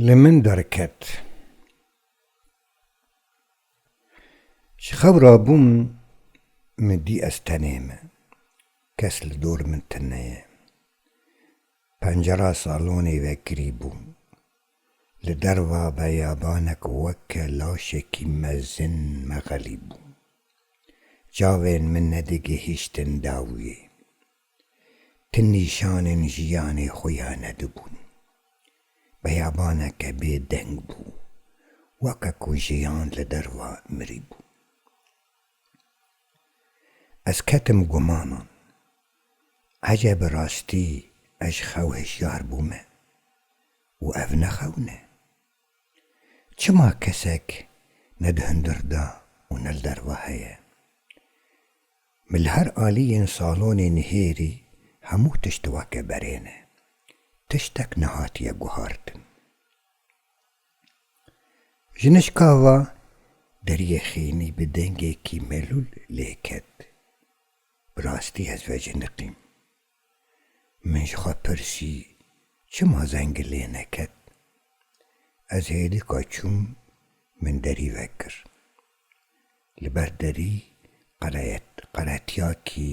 Li min derket. Ji xewra bûm min dî ez tenê me. Kes li dor min tune ye. Pencera salonê vekirî bû. Li derva beyabanek weke laşekî mezin mexelî bû. Çavên min nedigihîştin dawiyê. Ti nîşanên jiyanê xwe ya nedibûn. Beyabaneke bê deng bû, weke ku jiyan li derva mirîbû. Ez ketim gumanan. Ece bi rastî ez ji xew hişyar bûme û ev ne xew ne? Çima kesek ne di hundir de û ne li derve heye? Min li her aliyên salonê nihêrî hemû tişt weke berê ne. Tiştek nehatiye guhartin. Jinişka va, Deriyê xênî bi dengekî melûl lê ket. Bi rastî ez veciniqîm. Min ji xwe pirsî çima zengê lê neket. Ez hêlika çûm min derî vekir. Li ber derî qereyet qeretiyakî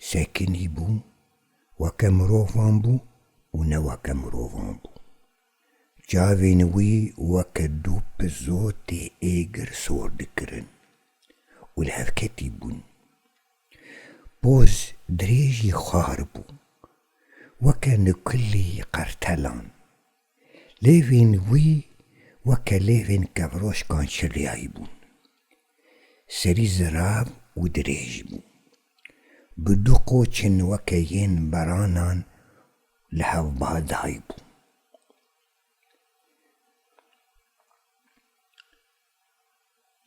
sekinî bû, weke mirovan bû û ne weke mirovan bû. Çavên wî weke du pizotê êgir sor dikirin û li hev ketî bûn. Boz dirêjî xwar bû, weke nukulî qertelan. Lêvên wî weke lêvên kevroşkan çirriyayî bûn. Serî zirav û dirêj bû. Bi du qoçên weke yên beranan li hev ba daybû.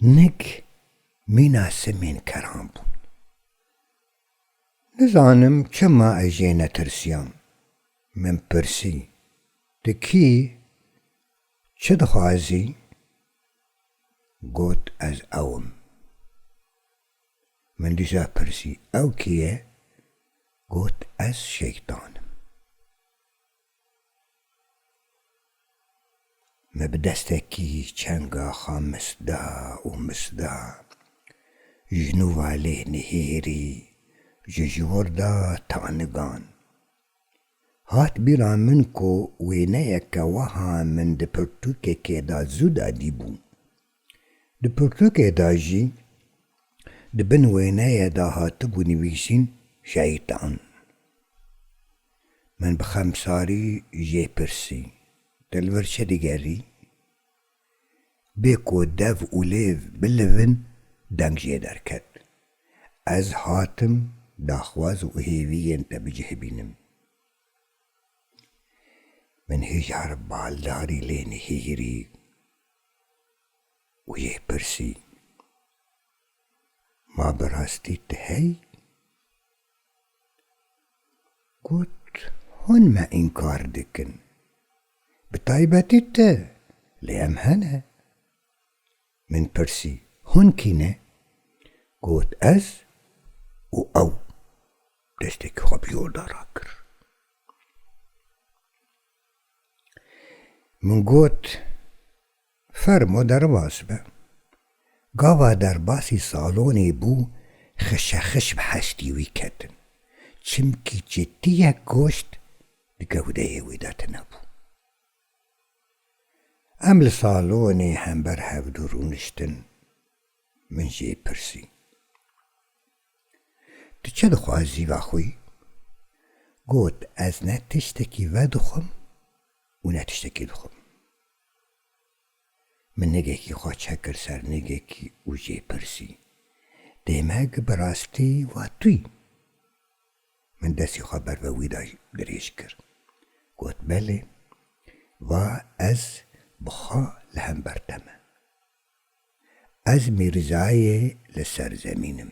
Nik mîna simên keran bûn. Nizanim çima ez jê netirsiyam. Min pirsî, Tu kî î? Çi dixwazî? Got, Ez ew im. Min dîsa pirsî, Ew kî ye? Got, Ez Şeytan im. Me bi destekî çenga xwe misda û misda ji nû ve lê nihêrî ji ji wir da tanigan. Hat bîra min ku wêneyeke weha min di pirtûkekê de zû dadîbû. Di pirtûkê de jî di bin wêneyê de hatibû nivîsîn Şeytan. Min bi xemsarî jê pirsî, Te li vir çi digerî? Bê ku dev û lêv bilivin deng jê derket. Ez hatim daxwaz û hêviyên te bi cih bînim. Min hêjar baldarî lê nehîrî. Wî yê pirsî, Ma bi rastî tu heyî? Got, Hûn me înkar dikin. Bi taybetî tu, lê em hene. Min pirsî, Hûn kî ne? Got, Ez û ew. Desteke xwe bi jorda rakir. Min got, Fermo derbas be. Gava derbasî salonê bû xişexiş bi hestî wî ketin. Çimkî çitiyek goşt di gewdeyê wî de tune bû. Em li salonê hember hevdu rûniştin. Min jê pirsî. Tu çi dixwazî vexwî? Got, Ez ne tiştekî vedixwim û ne tiştekî dixwim. Min nigekî xwe çekir ser nigekî û jê pirsî, Dê me gi bi rastî va tu yî? Min destê xwe ber ve wî de dirêj kir. Got, Belê, va ez bi xwe li hember te me. Ez Mîrzayê li ser zemîn im.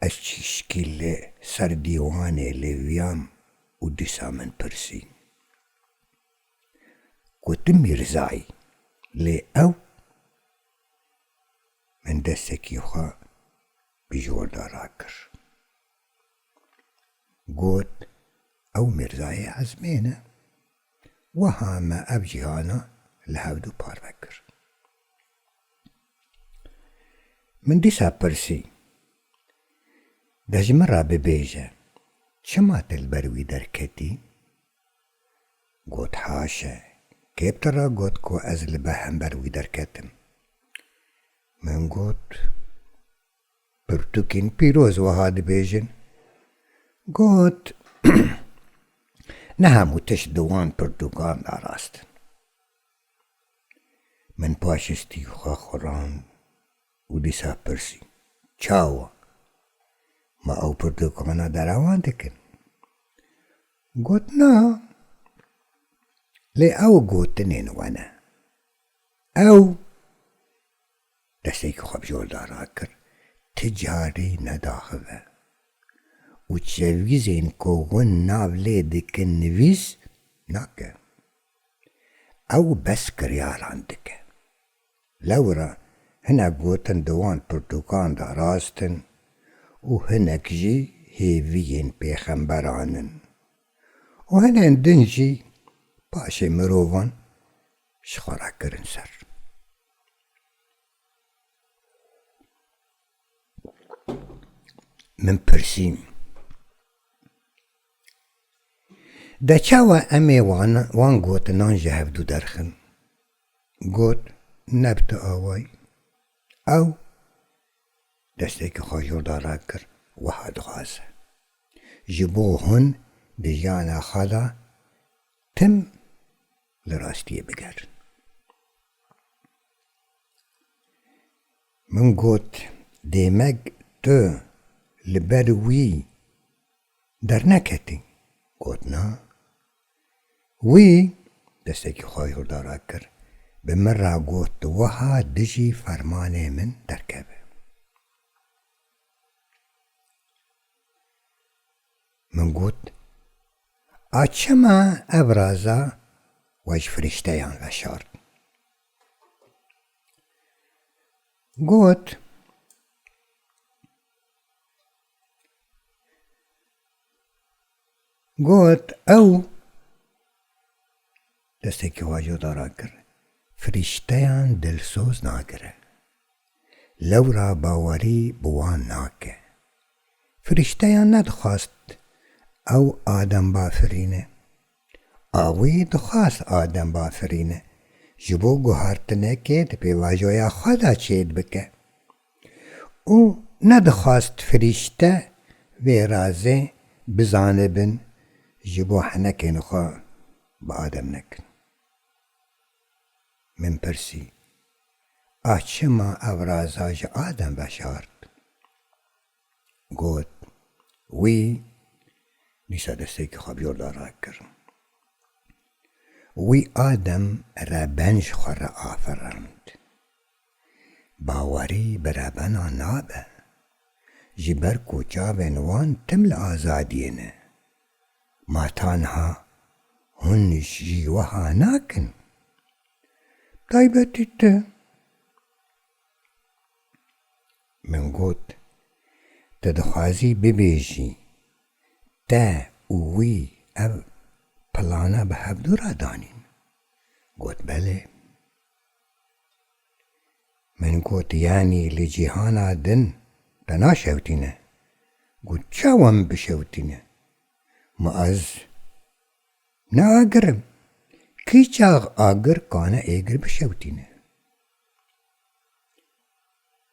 Ez çîşkî li ser dîwanê lêviyam û dîsa min pirsî. Gotim Mîrzayî, lê ew? Min destekî xwe bi jorda rakir. Got, Ew Mîrzayê Ezmê ne. Wiha me ev cîhana li hevdu parve kir. Min dîsa pirsî, De ji min re bibêje, çima tu li ber wî derketî? Got, Haşe, kê bi te re got ku ez li behember wî derketim? Min got. Pirtûkên pîroz wiha dibêjin, Got, Ne hemû tişt di wan pirtûkan de rast in. Min paşistî xwe xurand û dîsa pirsî, Çawa? Ma ew pirtûkana derewan dikin? Got, Na, lê ew gotinên we ne. Ew. Desteke xwe bi zor da rakir, ti carî nedaxive û çevgîzên ku hûn nav lê dikin nivîs nake. Ew bes kiryaran dike. Lewra hinek gotin di wan pirtûkan de rast in û hinek jî hêviyên pêxemberan in û hinên din jî paşê mirovan ji xwe re kirin ser. Min pirsî De çawa em ê wan wan gotinan ji hev dû derxin? Got, ne bi tu awayî. Ew desteke xwe ji orda rak kir, wiha dixwaze, Ji bo hûn di jiyana xwe de tim Li rastiyê bigerin. Min got Dêmek tu li ber wî derneketî? Got na. Wî destekî xwe ji hurda re kir, bi min re got tu wiha dijî fermanê min derkeve. Min got, A çima ev raza we ji firîşteyan veşart? Got, Got, ew. Desteke wajo dara kir, Firîşteyan dilsoz nagire. Lewra bawerî bi wan nake. Firîşteyan nedixwast ew Adem bafirîne. Awî dixwast Adem bafirîne ji bo guhartinekê di pêvajoya xwe de çêd bike. Û nedixwast firîşte vê razê bizanibin ji bo henekên xwe bi Adem nekin. Min pirsî, A çima ev raza ji Adem veşart? Got, Wî dîsa destêkê xwe bi yorda rakir. Wî Adem re ben ji xwe re afirand. Bawerî bi rebenan nabe, ji ber ku çavên wan tim li azadiyê ne. Ma tanha hûn jî weha nakin? Bi taybetî tu. Min got, Tu dixwazî bibêjî, te û wî ev plana bi hevdû re danîn? Got, Belê. Min got yanî li cîhana din te naşewitîne? Got çawa min bişewitîne? Ma ez ne agir im. Kî çax agir kane êgir bişewitîne?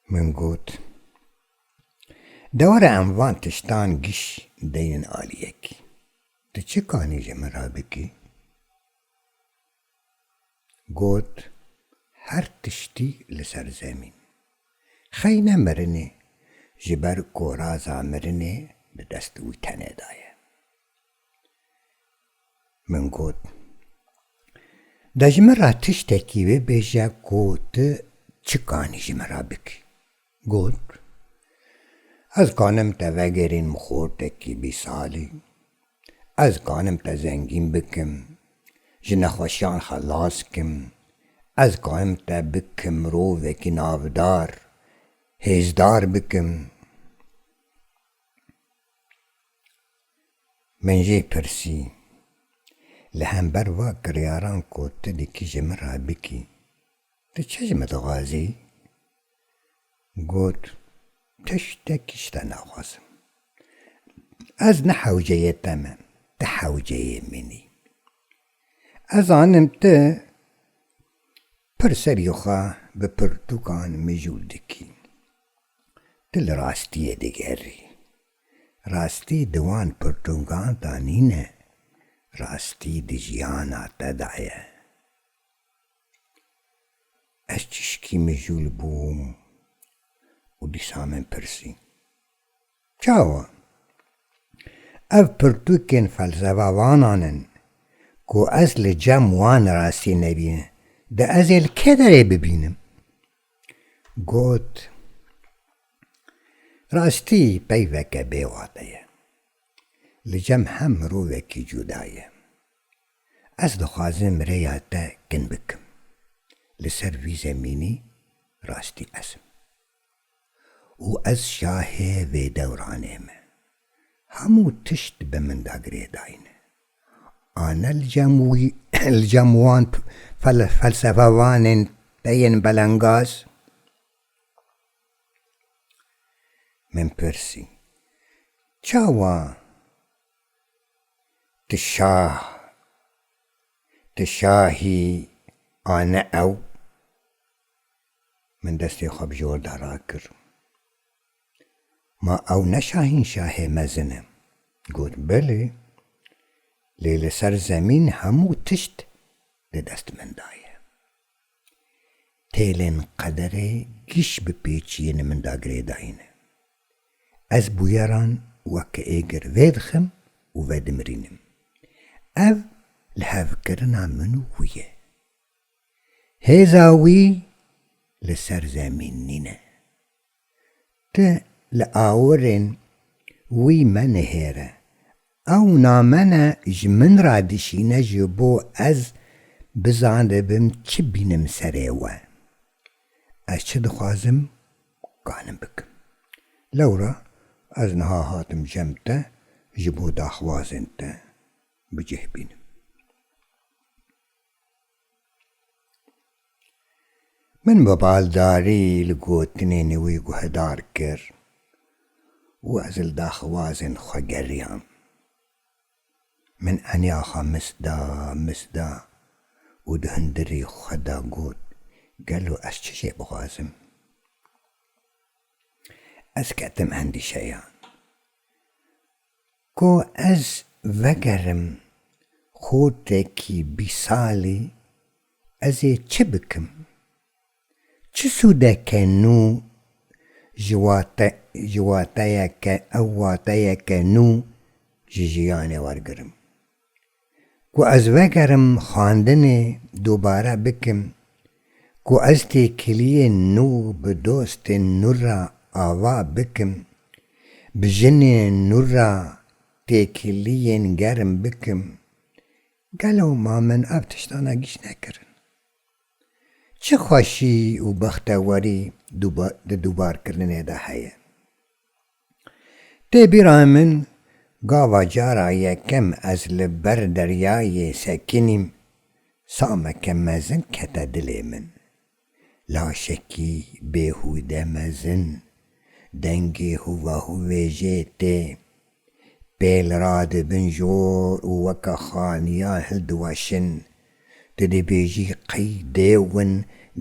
Min got dewera em van tiştan giş deynin aliyekî. Tu çi kanî ji min re bikî? Got, Her tiştî li ser zemîn xeyne mirinê ji ber ku raza mirinê di dest wî tenê de ye. Min got, De ji min re tiştekî bibêje ku tu çikanî ji min re bikî. Got, Ez kanim te vegerîn mixortekî bî salî? Ez kanim te zengîn bikim, ji nexweşiyan xelas kim? Ez kanim te bikim mirovekî navdar, hêzdar bikim? Min jê pirsî, Li hember va kiryaran ku tu dikî ji min re bikî, tu çi ji min dixwazî? Got, Tiştekî ji te naxwazim. Ez ne hewceyê te me, tu hewceyê min î. Ez zanim tu pir serî xwe bi pirtûkan mijûl dikî. Tu li rastiyê digerî. Rastî di wan pirtûngan de nîne. Rastî di jiyana te de ye. Ez çîşkî mijûl bûm û dîsa min pirsî, Çawa? Ev pirtûkên felsevevanan in ku ez li cem wan rastî nebîne, di ez ê li kê derê bibînim? Got, Rastî peyveke bêwate ye. Li cem hem mirovekî cuda ye. Ez dixwazim rêya te kin bikim. Li ser vî zemînî rastî ez im. Û ez şahê vê dewranê me. Hemû tişt bi min da girêdayîne. A ne li cem wî, li cem wan felsefevanên te yên belengaz? Min pirsî, Çawa? Tu şah, tu şahî a ne ew. Min destê xwe bi jor de rakir. Ma ew ne şahînşahê mezin e. Got, Belê, lê li ser zemîn hemû tişt di dest min de ye. Têlên qederê giş bi pêçiyên min da girêdayîne. Ez bûyeran weke êgir vêdixim û vedimirînim. Ev li hevkirina min û wî ye. Hêza wî li ser zemîn nîne. Ti li awirên wî menihêre. Ew namene ji min re dişîne ji bo ez bizanibim çi bînim serê we. Ez çi dixwazim kanim bikim. Lewra ez niha hatim cem te ji bo daxwazên te bi cih bînim. Min bi baldarî li gotinên wî guhedar kir û ez li daxwazên xwe geriyam. Min eniya xwe mis da, mis da û di hundirê xwe de got, Gelo ez çi jê bixwazim? Ez ketim endîşeya. Ku ez vegerim xotekî bîsalî ez ê çi bikim? Çi sûdeke nû ji wate ji wateyeke ew wateyeke nû ji jiyanê wergirim? Ku ez vegerim xwendinê dubare bikim, ku ez têkiliyê nû bi dostên nû re ava bikim, bi jinê nû re têkiliyên germ bikim, gelo ma min ev tiştana gîş nekirin? Çi xweşî û bextewerî di dûbarkirinê de heye? Tê bîra min gava cara yekem ez li ber deryayê sekinîm sameke mezin kete dilê min. Laşekî bêhûde mezin, dengê hûvahûvêjê tê. Pêl radibin jor û weke xaniyan hildiweşin. Tu dibêjî qey dêwin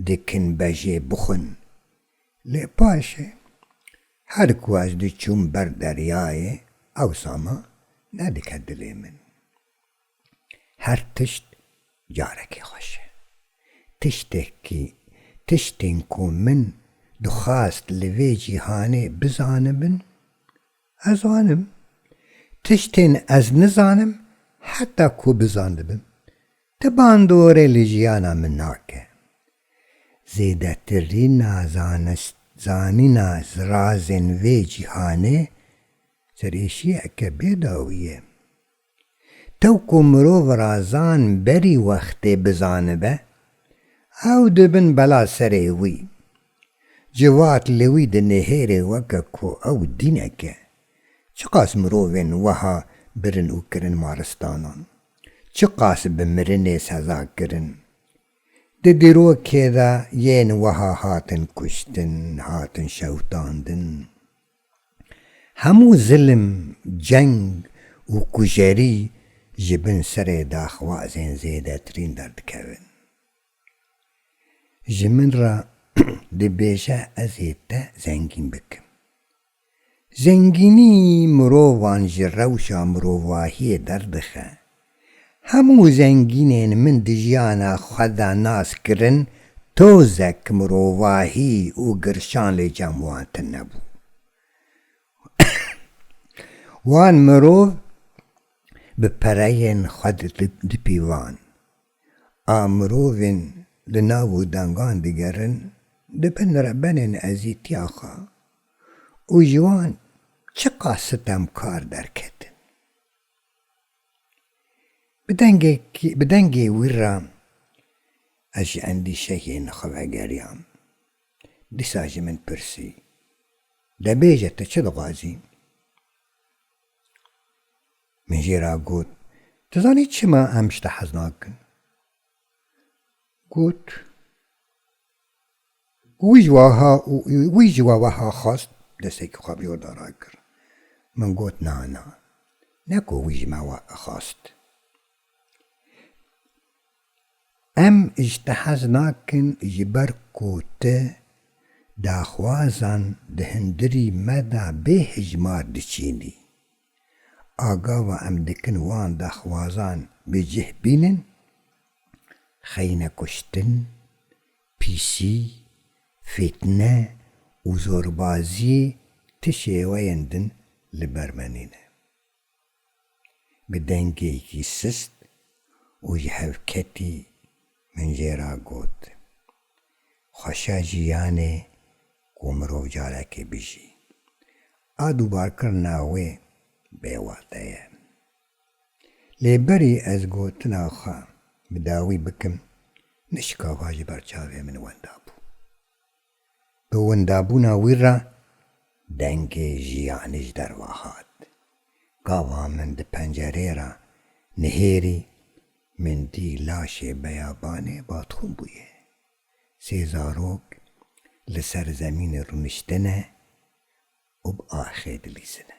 dikin bejê bixwin. Lê paşê her ku ez diçûm ber deryayê Ewsama nedike dilê min. Her tişt carekê xweş e. Tiştekî tiştên ku min dixwast li vê cîhanê bizanibin ez zanim. Tiştên ez nizanim heta ku bizandibim ti bandorê li jiyana min nake. Zêdetirîna zanist, zanîna zirazên vê cîhanê serêşiyeke bê dawî ye. Tew ku mirov razan berî wextê bizanibe, ew dibin bela serê wî. Civat li wî dinihêre weke ku ew dînek e. Çiqas mirovên weha birin û kirin maristanan? Çiqas bi mirinê seza kirin? Di dîrokê de yên wiha hatin kuştin, hatin şewitandin. Hemû zilim, ceng û kujerî ji bin serê daxwazên zêdetirîn derdikevin. Ji min re dibêje ez ê te zengîn bikim. Zengînî mirovan ji rewşa mirovahiyê derdixe. Hemû zengînên min di jiyana xwe de nas kirin tozek mirovahî û girşan lê cem wan tine bû. Wan mirov bi pereyên xwe dipîvan. A mirovên li nav û dengan digerin di bin rebenên ezîtiya xwe û ji wan çiqas sitemkar derketin. Bi dengekî bi dengê wî re ez ji endîşeyê li xwe vegeriyam. Dîsa ji min pirsî, De bêje tu çi dixwazî? Min jê re got, Dizanî çima em ji te hez nakin? Got, Wî ji waha û wî ji wa weha xwest desteke xwe bi yorda rakir. Min got, Na, na, ne ku wî ji me we xwest. Em ji te hez nakin ji ber ku tu daxwazan di hundirî me de bêhejmar diçînî. A gava em dikin wan daxwazan bi cih bînin, xeyne kuştin, pîsî, fîtne û zorbaziyê ti şêweyên din li ber me nîne. Bi dengekî sist û ji hevketî. Min jê re got, Xweşa jiyanê ku mirov carekê bijî. A dûbarkirina wê bêwate ye. Lê berî ez gotina xwe bi dawî bikim, nişka va ji ber çavê min wenda bû. Bi windabûna wî re dengê jiyanê ji derve hat. Gava min di pencereyê re nihêrî, min dî laşê beyabanê badxwin bûye. Sê zarok li ser zemînê rûniştine û bi axê dilîzine.